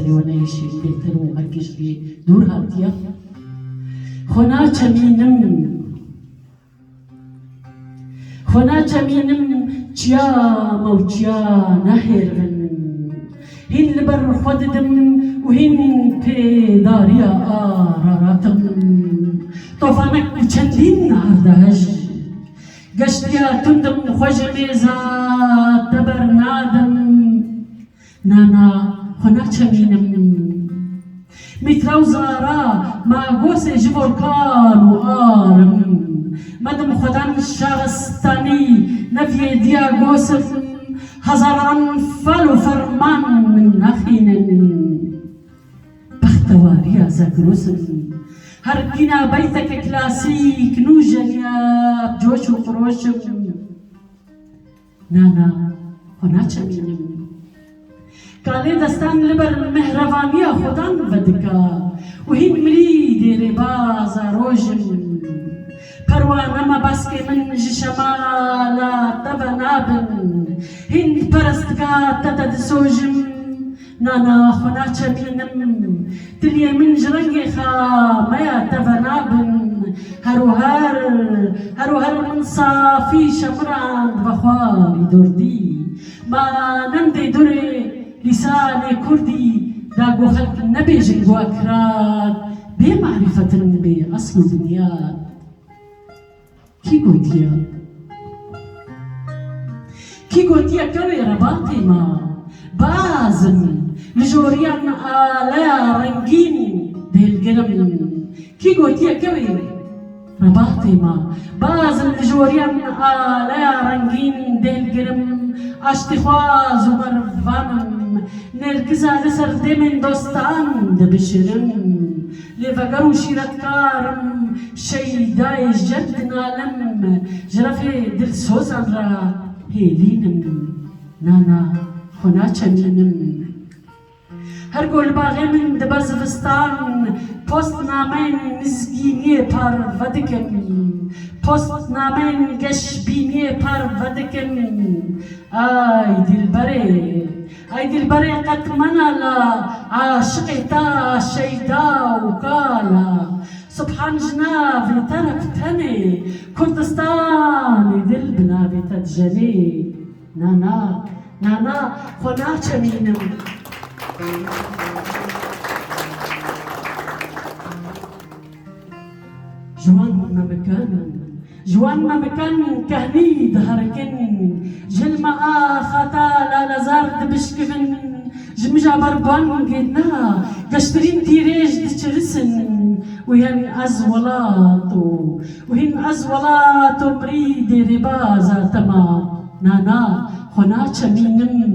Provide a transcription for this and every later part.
serê we neyişî bêtir û her kî ji wî dûr hatiye xwe naçemînim xwe naçemînim çiya me û çiya nehêrivin hîn li ber xwe didim û hîn tê dariya araratim tofanek û çendîn erdehej geştiya tundim xwe ji mêza te bernadim Na na xwe naçemînim. Mîtra û zara ma gosê ji bo kal û ar in. Medim xwedan şaristanî neviyêdiya gosim hezaran fal û ferman min naxînin. Bextewariya Zegros in. Her kîna beyteke klasîk nûjeniya bi coş û xiroş in. Na na xwe naçemînim. Kalê destan li ber mehrevaniya xwedan vedika û hîn mirî dê rêbaza roj in. Perwane me baskê min ji şemala te ve nabin. Hîn perestga te te disojim Na na xwe naçepînim. Tiliyên min ji rengê xwe me ya teve nabin. Her û her, her û her min safî şemirand ve xwarî durdî. Ma nemdê durê lîsanê kurdî da ku xelk nebêjin ku ekirad bê marîfet in bê esl û binyad. Kî gotiye? Kî gotiye kewê rebatê ma? Bazim li joriyan me aleya rengîn dêlgir im. Kî gotiye kewê rebatê ma? Bazim li joriyan me aleya rengîn dêlgir im. Aştîxwaz û merivan im. Nêrkiza li ser demên dostan dibişirim. Lê veger û şîretkar im, Şeydayê jeb dinalim, Ji refê dilsozan re hêlîn im, Na na xwe naçemînim. Her ku li baxê min dibe zivistan, Post nameyên mizgîniyê par vedikim, Post nameyên geşbîniyê par vedikim, Ay dîlberê! Ay dilberê qet mena la aşiqê ta Şeyda û ka la Subhan ji navê te re bi tenê Kurdistanê dil bi navê te dijenê Na na Na na xwe naçemînim Ji wan memikan, ji wan memikan kehnî diherikin, jilma a xata lalezar dibişkivin, ji mija ber bangê na geştirîn tîrêj diçirisin û hên ez welat o, û hîn ez welat o mirî dê rêbaza te ma, na na xwe naçemînim.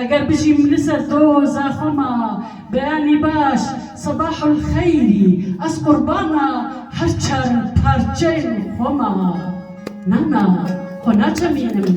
Eger bijîm li ser doza xwe ma beyanî baş Sebahul xeyrî ez qurbana her çar parçeyên xwe ma na na xwe naçemînim.